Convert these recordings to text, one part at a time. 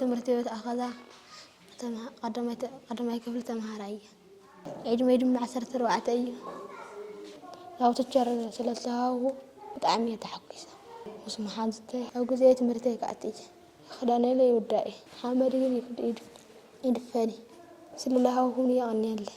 ትምህርቲ ቤት ኣኸዛ ቐዳማይ ክፍሊ ተምሃራይ እየ። ዕድመይ ድማ ዓሰርተ ኣርባዕተ እዩ። ያው ቲቸር ስለ ዝተዋህብኩ ብጣዕሚ እየ ተሓጒሰ ምስ መሓዙተይ። ኣብ ግዜ ትምህርተይ ክኣቲ እየ። ክዳነይ ለ ይውዳእ እዩ። ሓመድ ግን ይድፈን እዩ። ስለ ዝሃብኩምኒ የቐንየለይ።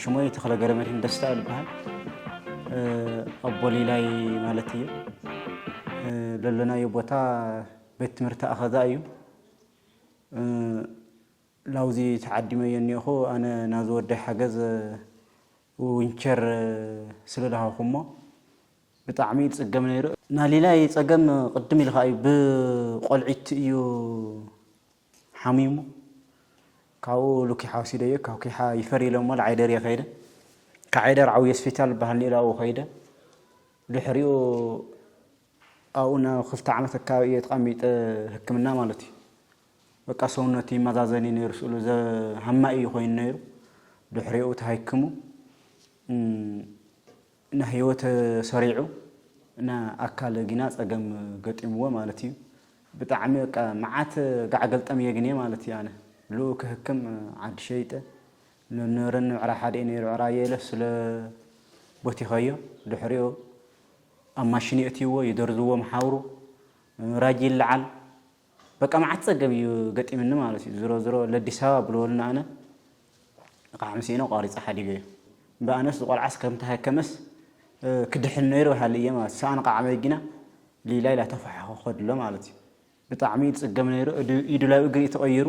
ሽሞይ ተክለ ገረመድህን ደስታ ልበሃል ኣቦሊላይ ማለት እዩ ለሎናዮ ቦታ ቤት ትምህርቲ ኣኸዛ እዩ ላውዚ ተዓዲመ እየ እኒኦኹ ኣነ ናዚ ወዳይ ሓገዝ ዊንቸር ስለ ዝሃኹሞ ብጣዕሚ ይፅገም ነይሩ ናሊላይ ፀገም ቅድም ኢልካ እዩ ብቆልዒት እዩ ሓሚሙ ካብኡ ሉኪሓ ወሲደዮ ካብ ኪሓ ይፈር ኢሎሞ ልዓይደር እየ ከይደ ካብ ዓይደር ዓብይ ሆስፒታል ዝበሃል ነይሩ ኣብኡ ከይደ ድሕሪኡ ኣብኡ ን ክልተ ዓመት ኣካባቢ እየ ተቐሚጠ ህክምና ማለት እዩ በቃ ሰውነቱ ይመዛዘን እዩ ነይሩ ስእሉ ሃማይ እዩ ኮይኑ ነይሩ ድሕሪኡ ተሃይክሙ እና ህይወት ሰሪዑ እና ኣካል ግና ጸገም ገጢምዎ ማለት እዩ ብጣዕሚ በቃ መዓት ጋዕ ገልጠም እየ ግኔ ማለት እዩ ኣነ ልኡ ክህክም ዓዲ ሸይጠ ንነረኒ ዕራ ሓደ ነይሩ ዕራ የለ ስለ ቦቲኸዮ ድሕሪኦ ኣብ ማሽን የእትይዎ ይደርዝዎ መሓውሩ ራጅ ይለዓል በቃ መዓት ጸገም እዩ ገጢምኒ ማለት እዩ ዝሮ ዝሮ ለዲስ ኣበባ ብልወልና ኣነ እቓሕ ምስ ኢነ ቋሪጸ ሓዲገዮ እምበ ኣነስ ዝቆልዓስ ከም ተሃከመስ ክድሕን ነይሩ ሃልየ ማለት ሰኣን ቓዕ መጊና ሊላ ኢላ ተፋሓኾኸድሎ ማለት እዩ ብጣዕሚ እዩ ዝጽገም ነይሩ ኢዱ ላብ እግሪ እዩ ተቐይሩ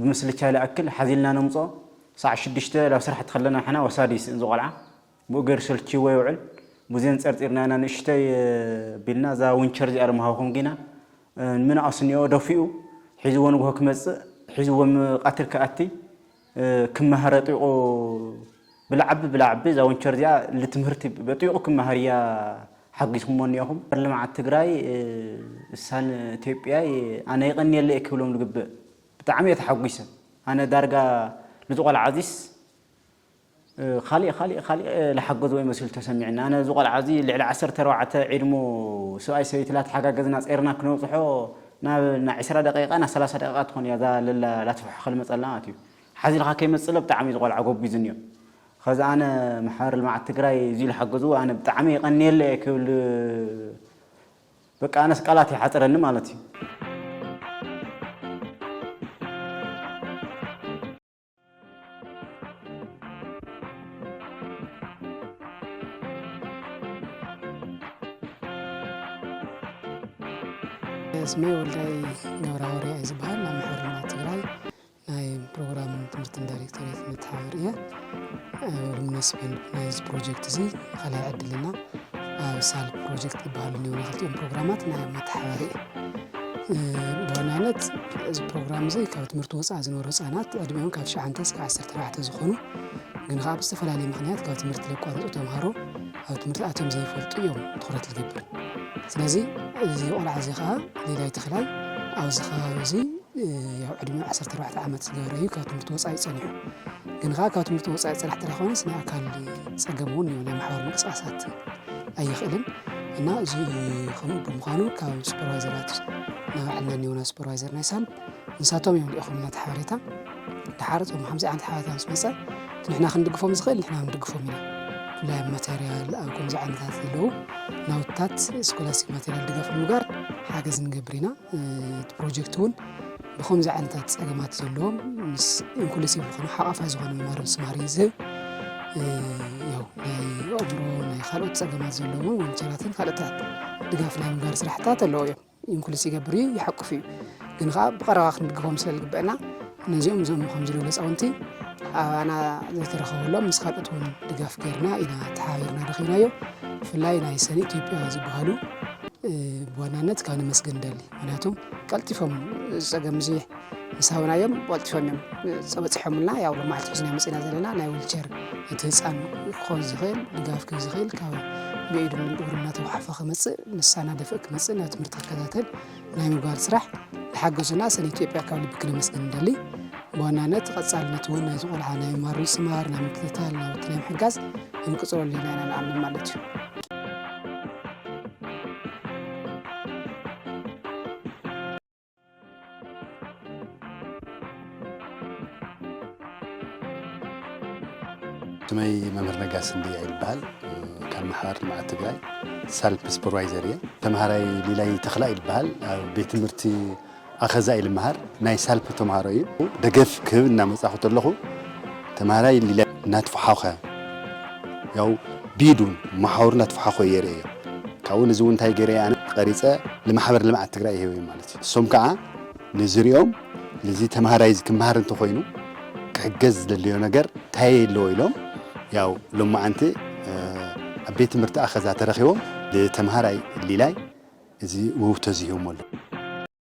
ብምስልቻ ልኣክል ሓዚልና ነምጽኦ ሳዕ ሽዱሽተ ላብ ስራሕ ትኸለና ሕና ወሳዲ ይስእን ዝቆልዓ ብኡ ገይሩ ሰልችይዎ የውዕል ቡዜን ጸርጺርና ኢና ንእሽቶይ ቢልና እዛ ዊንቸር እዚኣ ደሞ ሃብኹም ጊና ንምን ኣስኒኦ ደፊኡ ሒዝዎ ንግሆ ክመጽእ ሒዝዎ ም ቃትል ክኣቲ ክመሃር ኣጥቢቑ ብላዕቢ ብላዕቢ እዛ ወንቸር እዚኣ ልትምህርቲ በጢቁ ክማሃር እያ ሓጊዝኩሞ እኒኦኹም ልምዓት ትግራይ እሳን እትዮጵያይ ኣነ ይቀንየለ እየ ክብሎም ልግብእ ብጣዕሚ እየ ተሓጒሰ ኣነ ዳርጋ ልዚ ቆልዓ እዚስ ኻሊእ ኻሊእ ኻሊእ ልሓገዝዎ ይመስሉ ተሰሚዕኒ ኣነ እዚ ቆልዓ እዚ ልዕሊ ዓሰርተ ኣርባዕተ ዒድሙ ስብኣይ ሰበይቲ ላተሓጋገዝና ፀይርና ክነብፅሖ ናብ ና ዕስራ ደቂቃ ና ሰላሳ ደቂቃ ትኾን እያ እዛ ለላ ላትፍሕኸ ልመፀልና ማለት እዩ ሓዚልካ ከይመጽእለ ብጣዕሚ ዝቆልዓ ጎብዙ እንዮ ኸዚ ኣነ ማሕበር ልምዓት ትግራይ እዙይ ልሓገዝዎ ኣነ ብጣዕሚ የቀንየለ እየ ክብል በቃ ኣነስ ቃላት ይሓፅረኒ ማለት እዩ። ስመይ ወልዳይ ገብረሃዋርያ እዩ ዝበሃል ናብ ማሕበር ልምዓት ትግራይ ናይ ፕሮግራምን ትምህርትን ዳይሬክቶሬት መተሓባብር እየ። ሉሚነስ ፔንድ ናይዚ ፕሮጀክት እዚ ካልኣይ ዕድልና ኣብ ሳል ፕሮጀክት ዝበሃሉ እኒኦ መዘልቲኦም ፕሮግራማት ናይ መተሓባሪ እየ ብዋናነት እዚ ፕሮግራም እዚ ካብ ትምህርቲ ወፃኢ ዝነበሩ ህፃናት ዕድሚኦም ካብ ትሽዓንተ እስከ ዓሰርተ ኣርባዕተ ዝኾኑ ግን ከዓ ብዝተፈላለየ ምክንያት ካብ ትምህርቲ ዘቋረፁ ተምሃሮ ኣብ ትምህርቲ ኣትዮም ዘይፈልጡ እዮም ትኹረት ዝገብር ስለዚ እዚ ቆልዓ እዚ ከዓ ሌላይ ተኽላይ ኣብዚ ከባቢ እዚ ያው ዕድመ 14 ዓመት ዝገበረ እዩ ካብ ትምህርቲ ወፃኢ ፀኒሑ ግን ከዓ ካብ ትምህርቲ ወፃኢ ፅራሕ ተላኾነ ስነ ኣካል ፀገም እውን እዩ ናይ ማሕበር ምንቅስቃሳት ኣይኽእልን እና እዚ ከምኡ ብምዃኑ ካብ ሱፐርቫይዘራት ናብ ዕልና ኒሆና ሱፐርቫይዘር ናይ ሳል ንሳቶም እዮም ልኢኹምና እቲ ሓበሬታ ተሓረፅ ብ ከምዚ ዓይነት ሓበሬታ ምስ መፀ ንሕና ክንድግፎም ዝኽእል ንሕና ክንድግፎም ኢና ብፍላይ ኣብ ማተርያል ኣብ ከምዚ ዓይነታት ዘለዉ ናውትታት ስኮላስቲክ ማተርያል ድጋፍ ንምግባር ሓገዝ ንገብር ኢና እቲ ፕሮጀክት እውን ብከምዚ ዓይነታት ፀገማት ዘለዎም ምስ ኢንክሉሲቭ ዝኾነ ሓቋፋይ ዝኾነ መማር ምስማር እዩ ዝህብ ያው ናይ ኣእምሮ ናይ ካልኦት ፀገማት ዘለዎም ወንቸራትን ካልኦታት ድጋፍ ናይ ምግባር ስራሕታት ኣለዎ እዮም ኢንክሉስ ይገብር እዩ ይሓቁፍ እዩ ግን ከዓ ብቀረባ ክንምግቦም ስለ ዝግበአና ነዚኦም ዞም ከምዚ ልብሉ ህፃውንቲ ኣባና ዘይተረኸበሎም ምስ ካልኦት እውን ድጋፍ ገይርና ኢና ተሓባቢርና ረኺብናዮ ብፍላይ ናይ ሰኒ ኢትዮጵያ ዝበሃሉ ብዋናነት ካብ ነመስገን ደሊ ምክንያቱም ቀልጢፎም ዝፀገም እዚ ምስ ሃብናዮም ብቐልጢፎም እዮም በፂሖምልና ያው ሎማዕቲ ሒዝናዮ መፂና ዘለና ናይ ዊልቸር እቲ ህፃን ክኾን ዝኽእል ድጋፍ ክብ ዝኽእል ካብ ብኢዱን እግሩ እናተጓሓፈ ክመፅእ ንሳና ደፍእ ክመፅእ ናብ ትምህርቲ ክከታተል ናይ ምግባር ስራሕ ዝሓገዙና ሰለ ኢትዮጵያ ካብ ልቢ ክነመስግን ንደሊ ብዋናነት ቀፃልነት እውን ናይዚ ቆልዓ ናይ ምማር ምስማር ናይ ምክትታል ናውቲ ናይ ምሕጋዝ ክንቅፅለሉ ኢና ኢና ንኣምን ማለት እዩ ስመይ መምህር ነጋስ እንድያ ይበሃል ካብ ማሕበር ልምዓት ትግራይ ሳልፕ ሱፐርቫይዘር እየ ተምሃራይ ሊላይ ተኽላ ይበሃል ኣብ ቤት ትምህርቲ ኣኸዛ ኢሉ መሃር ናይ ሳልፕ ተምሃሮ እዩ ደገፍ ክህብ እናመፃኹ ተለኹ ተማሃራይ ሊለ እናትፈሓኸ ያው ቢዱን መሓውሩ እናትፈሓኸ የርእዮ ካብኡ ንዚ እውን እንታይ ገይረ ኣነ ቀሪፀ ንማሕበር ልምዓት ትግራይ ይህበ ማለት እዩ እሶም ከዓ ንዝሪኦም ንዚ ተማሃራይ እዚ ክመሃር እንተኮይኑ ክሕገዝ ዝደለዮ ነገር እንታይ ኣለዎ ኢሎም ያው ሎማዓንቲ ኣብ ቤት ትምህርቲ ኣኸዛ ተረኺቦም ንተምሃራይ ሊላይ እዚ ውህብቶ እዚ ሂቦሞ ኣለዉ።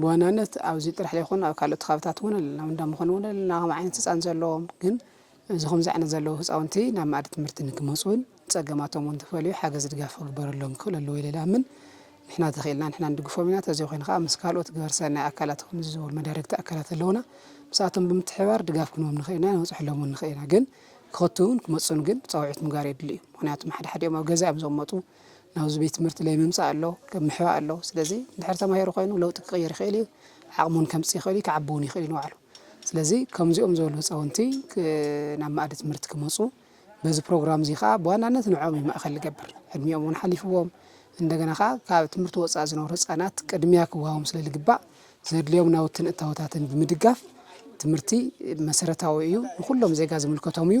ብዋናነት ኣብዚ ጥራሕ ዘይኮነ ኣብ ካልኦት ከባብታት እውን ኣለና ኣብ እንዳመኾነ እውን ኣለና ከምኡ ዓይነት ህፃን ዘለዎም ግን እዚ ከምዚ ዓይነት ዘለዉ ህፃውንቲ ናብ መኣዲ ትምህርቲ ንክመፁ እውን ፀገማቶም እውን ተፈልዩ ሓገዝ ድጋፍ ክግበረሎም ክኽእል ኣለዎ ኢለ ልኣምን ንሕና ተኽኢልና ንሕና ንድግፎም ኢና ተዘይኮይኑ ከዓ ምስ ካልኦት ግበር ሰናይ ኣካላት ከምዚ ዝበሉ መዳርግቲ ኣካላት ኣለዉና ምስኣቶም ብምትሕባር ድጋፍ ክንቦም ንኽእል ኢና ንበፅሐሎም እውን ንኽእል ኢና ግን ክኸትውን ክመፁን ግን ፃውዒት ምጋር የድሊ እዩ ምክንያቱም ሓደ ሓዲኦም ኣብ ገዛ እዮም ዝቕመጡ ናብዚ ቤት ትምህርቲ ለይ ምምጻእ ኣሎ ለይ ምሕባእ ኣሎ ስለዚ እንድሕር ተማሂሩ ኮይኑ ለውጢ ክቕይር ይኽእል እዩ ዓቕሚ እውን ከምጽእ ይኽእል እዩ ክዓቢ እውን ይኽእል እዩ ንባዕሉ ስለዚ ከምዚኦም ዝበሉ ህፃውንቲ ናብ ማእዲ ትምህርቲ ክመፁ በዚ ፕሮግራም እዚ ከዓ ብዋናነት ንዕኦም እዩ ማእኸል ዝገብር ዕድሚኦም እውን ሓሊፍዎም እንደገና ከዓ ካብ ትምህርቲ ወፃኢ ዝነብሩ ህፃናት ቅድሚያ ክወሃቦም ስለ ዝግባእ ዘድልዮም ናውትን እታወታትን ብምድጋፍ ትምህርቲ መሰረታዊ እዩ ንኩሎም ዜጋ ዝምልከቶም እዩ